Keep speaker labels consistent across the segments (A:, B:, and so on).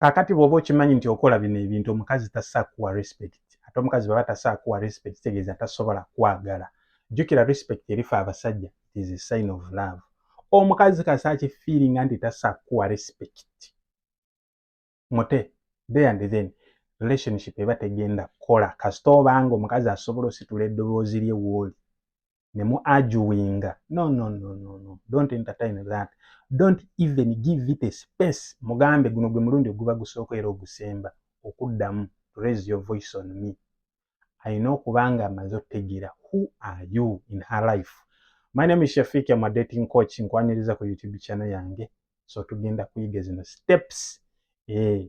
A: kakati bwoba okimanyi nti okola bino ebintu omukazi tasa kuwa respect ate omukazi baba tasa kuwa respect tegeeza tasobola kwagala jukira respect erifa abasajja it is a sign of love omukazi kasa akifiiringa nti tasa kuwa respect mute there and then relationship eba tegenda kukola kasita obanga omukazi asobola ositula eddoboozi lye wooli ne mu arguinga no no no no no don't entertain that don't even give it a space mugambe guno gwe mulundi oguba gusooka era ogusemba okuddamu to raise your voice on me alina okuba nga amaze okutegeera who are you in her life my name is shafiq am a dating coach nkwaniriza ku youtube channel yange so tugenda kuyiga zino steps eh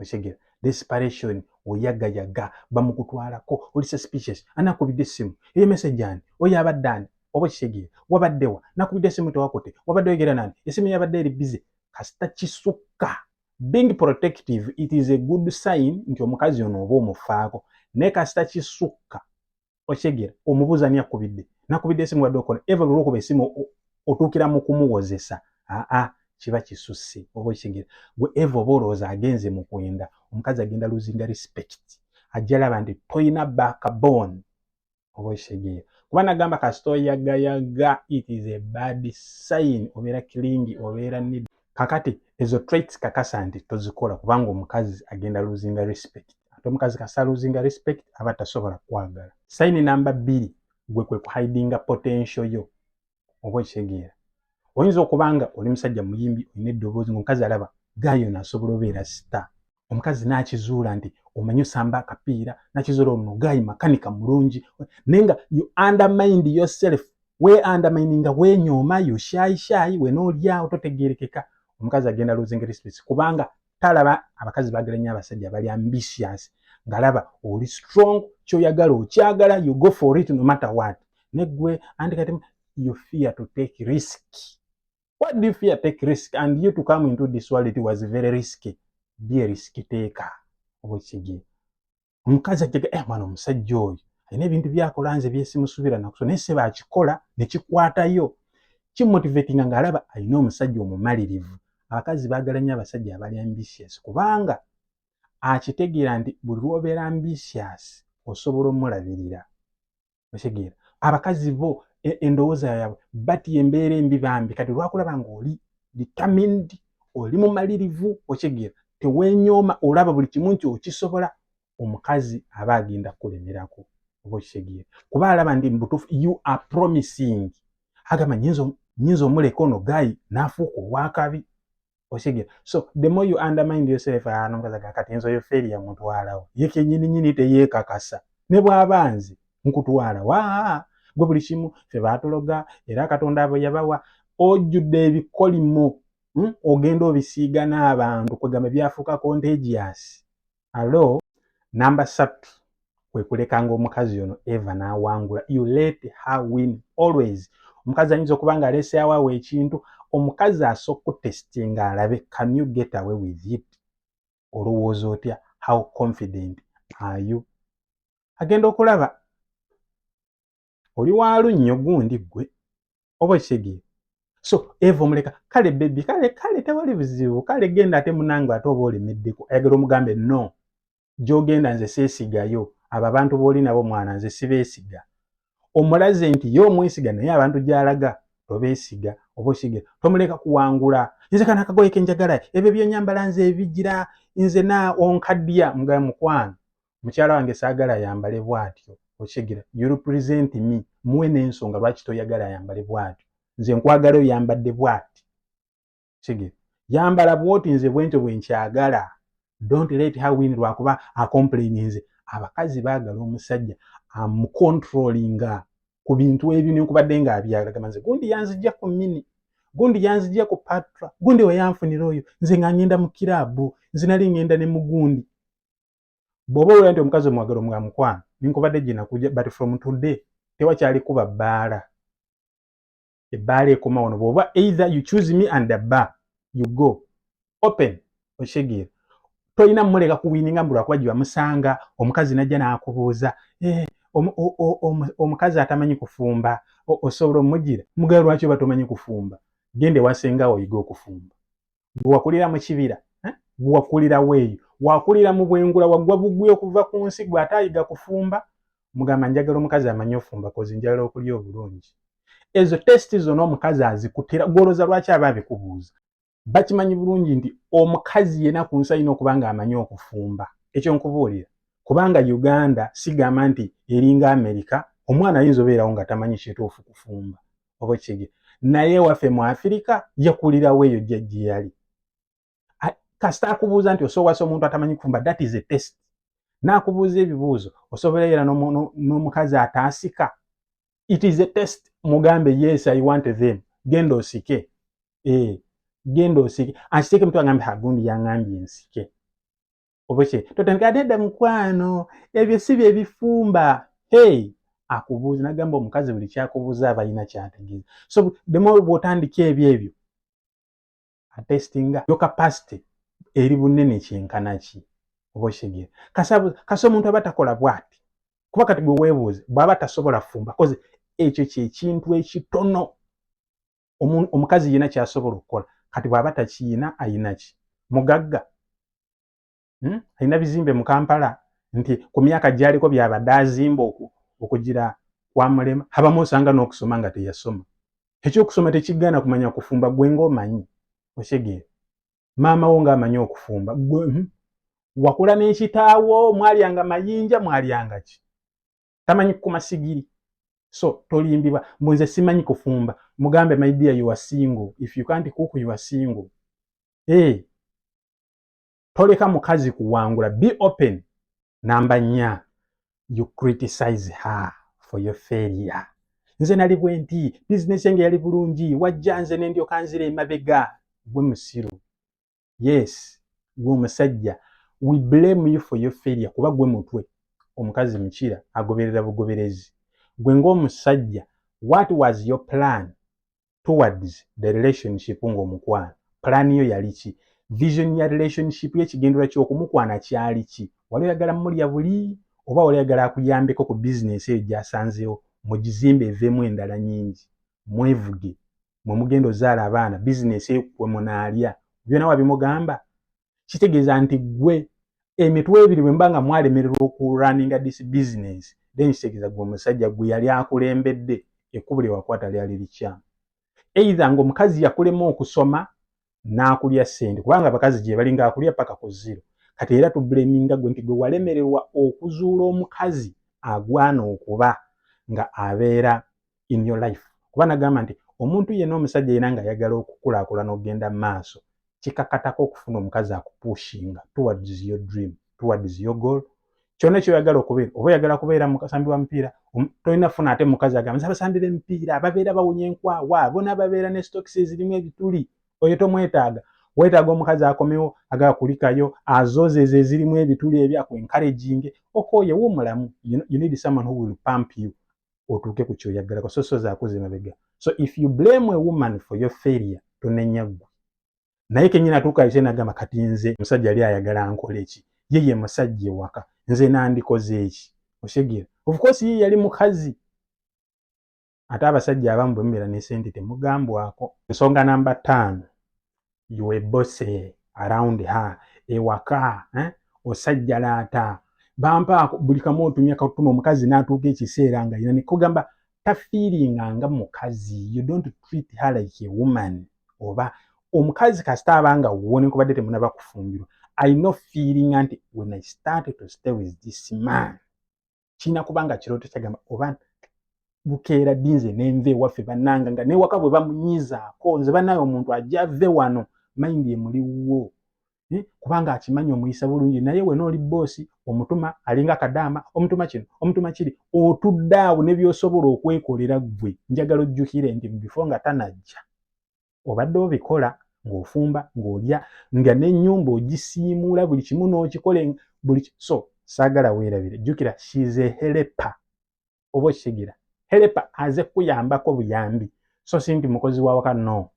A: okitegera desperation oyagayaga bamukutwalako oli suspicious anakubidde essimu eyo message ani oyo abadde ani oba okitegera wabaddewa nakubidde essimu tewakute wabadde oyogera nani essimu yabadde eri busy kasita kisukka being protective it is a good sign nti omukazi ono oba omufaako naye kasita kisukka okitegera omubuuza ani akubidde nakubidde esimu wadde okola eva lulwokuba esimu otuukira mu kumuwozesa aa kiba kisusse oba okitegera gwe eva oba olowooza agenze mu kwenda omukazi agenda luzinga respect ajja laba nti toyina backbone oba okitegera kuba nagamba kasita oyagayaga it is a bad sign obeera kilingi obeera nid kakati ezo traits kakasa nti tozikola kubanga omukazi agenda luzinga respect ate omukazi kasa luzinga respect aba tasobola kwagala sayini namba bbiri gwe kwe kuhidinga potensio yo oba okitegeera oyinza okuba nga oli musajja muyimbi olina eddoboozi ngaomukazi alaba gayono asobola obeera sita omukazi n'akizuula nti omanyi osamba akapiira n'akizuula ono gaayi makanika mulungi naye nga you undermined yourself we undermine nga wenyooma yo shaayi shaayi wena olyawo totegeerekeka omukazi agenda losing respect kubanga talaba abakazi bagala nnyo abasajja bali ambitious ngalaba oli strong kyoyagala okyagala you go for it no matter what negwe anti kati you fear to take risk Why do you fear take risk and you to come into this world it was very risky. Be a risk taker. Obwekigye. Omukazi ajjaga eh mwana omusajja oyo alina ebintu byakola nze byesimusubira nakuso naye seba akikola ne kikwatayo kimotivatinga ng'alaba alina omusajja omumalirivu. Abakazi baagala nnyo abasajja abali ambitious kubanga akitegeera nti buli lw'obeera ambitious osobola omulabirira. okitegeera abakazi bo e, endowooza yaabwe bati embeera embi bambi kati lwakulaba nga oli determined oli mumalirivu okitegeera tewenyooma olaba buli kimu nti okisobola omukazi aba agenda kukulemerako oba okitegeera kuba alaba ndi mubutuufu you are promising agamba nyinza omuleka ono gayi nafuuka owakabi okitegera so the more you undermine yourself ano ah, kazaga kati enzo yo failure mutwalawo ye kenyini nyini teyekakasa ne bwaba nze nkutwala wa gwe buli kimu fe batuloga era katonda abo yabawa ojjudde ebikolimo hmm? ogenda obisiiga n'abantu kwegamba byafuuka contagious alo namba satu kwekulekanga omukazi ono eva nawangula you let her win always omukazi ayinza okuba nga aleseawo awo ekintu omukazi asoka kutestinga alabe can you get away with it olowooza otya how confident are you agenda okulaba oli walunnyo gundi ggwe oba okitegeera so eva omuleka kale bebi kale kale tewali buzibu kale genda ate munange ate oba olemeddeko ayagala omugambe no gyogenda nze seesigayo abo abantu booli nabo mwana nze sibeesiga omulaze nti ye omwesiga naye abantu gyalaga tobeesiga oba okige tomuleka kuwangula nze kana akagoye kenjagala ebyo byonyambala nze ebigira nze na onkaddiya mugabe mukwano mukyala wange saagala ayambale bw'atyo okitegera you represent me muwe n'ensonga lwaki toyagala ayambale bw'atyo nze nkwagala oyambadde bw'ati okitegera yambala bw'oti nze bwentyo bwe nkyagala don't let her win lwakuba acomplaininze abakazi baagala omusajja amucontrolinga ku bintu ebyo nenkubadde nga abyalagama nze gundi yanzijja ku mini gundi yanzijja ku patra gundi weyanfunira oyo nze nga ngenda mu kiraabu nze nali ngenda ne mugundi bwoba owulira nti omukazi omwagala omwa mukwano ninkubadde gyenakuja but from today tewakyali kuba bbaala ebbaala ekoma wano bwoba either you choose me and the bar you go open okitegeera tolina muleka kuwininga mbu lwakuba gyebamusanga omukazi najja nakubuuza eh, omukazi atamanyi kufumba osobola omugira mugala lwaki oba tomanyi kufumba genda ewasenga oyiga okufumba gwe wakulira mu kibira eh? gwe wakulirawo eyo wakulira mu bwengula wagwa bugwi okuva ku nsi gwe ate ayiga kufumba mugamba njagala omukazi amanyi ofumba kozi njagala okulya obulungi ezo testi zona omukazi azikutira gwoloza lwaki aba abikubuuza bakimanyi bulungi nti omukazi yena ku nsi alina okuba nga amanyi okufumba ekyo nkubuulira kubanga uganda sigamba nti eringa amerika omwana ayinza obeerawo nga tamanyi kituufu kufumba oba okitegeera naye waffe mu afirika yakulirawo eyo jajji yali kasita akubuuza nti osowasa omuntu atamanyi kufumba that is a test naakubuuza ebibuuzo osobola era n'omukazi ataasika it is a test mugambe yes i want them genda osike e genda osike akiteeke mutwe agambe hagundi yangambye nsike obwekye totandika nedda mukwano ebyo si bye bifumba hey akubuuza nagamba omukazi buli kyakubuuza abalina kyategeeza so demo bwotandika ebyo ebyo atestinga yoka past eri bunene kyenkana ki oba okitegeera kasi omuntu aba takola bwati kuba kati gwe webuuze bwaba tasobola fumba koze ekyo kyekintu ekitono omukazi yina kyasobola okukola kati bwaba takiyina ayinaki mugagga hmm? ayina bizimbe mu kampala nti ku myaka gyaliko byabadde azimba oku okugira kwamulema habamu osanga n'okusoma nga teyasoma ekyokusoma tekigaana kumanya kufumba gwe ngaomanyi osegeera maama wo ngaamanyi okufumba gwe hmm? wakula n'ekitaawo mwalyanga mayinja mwalyanga ki tamanyi kukuma sigiri so tolimbibwa mbu nze simanyi kufumba mugambe my dear you are single if you can't cook you are single hey. Eh, toleka mukazi kuwangula be open namba nya you criticize her for your failure nze nali bwenti bizinesi yange yali bulungi wajja nze nendyoka nzira emabega gwe musiru yes gwe omusajja we blame you for your failure kuba gwe mutwe omukazi mukira agoberera bugoberezi gwe ngaomusajja what was your plan towards the relationship ngaomukwano plan yo yali ki vision ya relationship yekigendera kyokumukwana kyali ki wali oyagala mulya buli oba wali oyagala akuyambeko ku bizinesi eyo gyasanzewo mugizimbe eveemu endala nyingi mwevuge mwe mugenda ozaala abaana bizinesi ekukwe munaalya byona wabimugamba kitegeeza nti gwe emitwe ebiri bwemba nga mwalemererwa okuraninga dis business then kitegeeza gwe omusajja gwe yali akulembedde ekkubo lyewakwata lyali likyamu eitha nga omukazi yakulema okusoma n'akulya ssente kubanga abakazi gye bali ng'akulya paka ku ziro kati era tubleminga gwe nti gwe walemererwa okuzuula omukazi agwana okuba nga abeera in your life kuba nagamba nti omuntu yena omusajja yena ng'ayagala okukulaakulana okugenda mu maaso kikakatako okufuna omukazi akupushinga towards your dream towards your goal kyona ekyoyagala okubeera oba oyagala kubeera mukasambi wa mupiira um, tolina funa ate mukazi agamba nze abasambira emipiira ababeera bawunya enkwawa bona babeera ne stokisi ezirimu ebituli oyo tomwetaaga wetaaga omukazi akomewo agala kulikayo azoze ezo ezirimu ebituli ebyo aku encouraging okooye wumulamu you need someone who will pump you otuuke ku kyoyagalako so so zakuze mabega so if you blame a woman for your failure tonenya ggwe naye kenyini atuuka ate nagamba kati nze musajja yali ayagala nkole ki ye ye musajja ewaka nze nandikoze eki oshegera ofcourse ye yali mukazi ate abasajja abamu bwemubeera ne sente temugambwako ensonga namba taano yowe bose around her ewaka eh? osajjalaata bampaako buli kamu otumya katuma omukazi natuuka ekiseera nga yina nekugamba tafiiringa nga mukazi you don't treat her like a woman oba omukazi kasita abanga wuwo nenkubadde temunaba kufumbirwa i no feeling nti when i started to stay with this man kirina kubanga kirooto kyagamba oba bukeera ddi nze nenva ewaffe bananga nga newaka bwe bamunyizaako nze banaye omuntu ajave wano mayindi emuli wuwo eh, kubanga akimanyi omuyisa bulungi naye wena oli boosi omutuma alinga kadaama omutuma kino omutuma kiri otudde awo ne byosobola okwekolera ggwe njagala ojjukire nti bifo nga tanajja obadde obikola ng'ofumba ng'olya nga n'ennyumba ogisiimuula buli kimu n'okikole buli so saagala weerabire jjukira shize helepa oba okitegeera helepa aze kuyambako buyambi so si nti mukozi wawaka no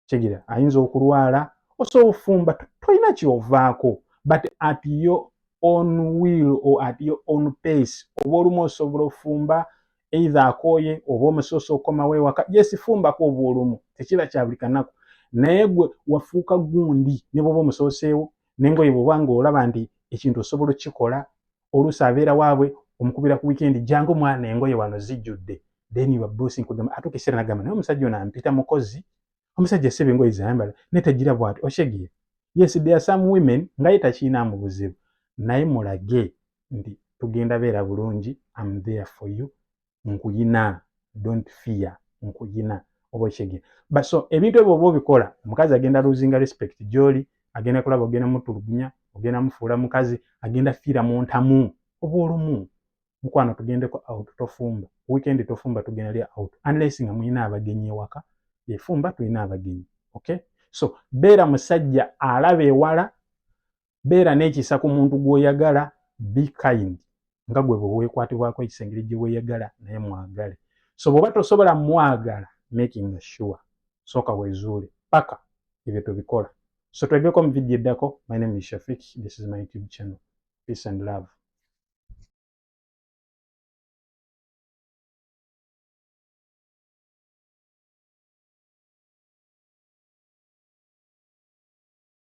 A: kigera ayinza okulwala osobola ofumba tolina kyovaako but at your own will or at your own pace oba olumu osobola ofumba eithe akooye oba omusoosa okomawo ewaka yesifumbako oba olumu tekiba kya buli kanaku naye gwe wafuuka gundi ne bwoba omusooseewo nengoye bwoba nga olaba nti ekintu osobola okukikola oluusi abeera waabwe omukubira ku wikendi jangu mwana engoye wano zijjudde then your boss nkugamba atuuka ekiseera nagamba naye omusajja ono ampita mukozi omusajja sebe engoye zayambala naye tagira bwati oshegiye yes there are some women nga ye takiinaamu buzibu naye mulage nti tugenda beera bulungi am there for you nkuyina don't fear nkuyina oba okyege baso ebintu ebyo oba obikola omukazi agenda losing respect gyoli agenda kulaba ogenda mutulugunya ogenda mufuula mukazi agenda fiira mu ntamu oba olumu mukwano tugendeko out tofumba weekend tofumba tugenda lya out unless nga muyina abagenyi ewaka efumba tulina abagenyi okay so beera musajja alaba ewala beera n'ekisa ku muntu gw'oyagala be kind nga gwe bwe weekwatibwako ekisa engeri gye weeyagala naye mwagale so bw'oba tosobola mwagala making sure sooka weezuule paka ebyo tubikola so twegeko mu vidiyo eddako my name is shafik this is my youtube channel peace and love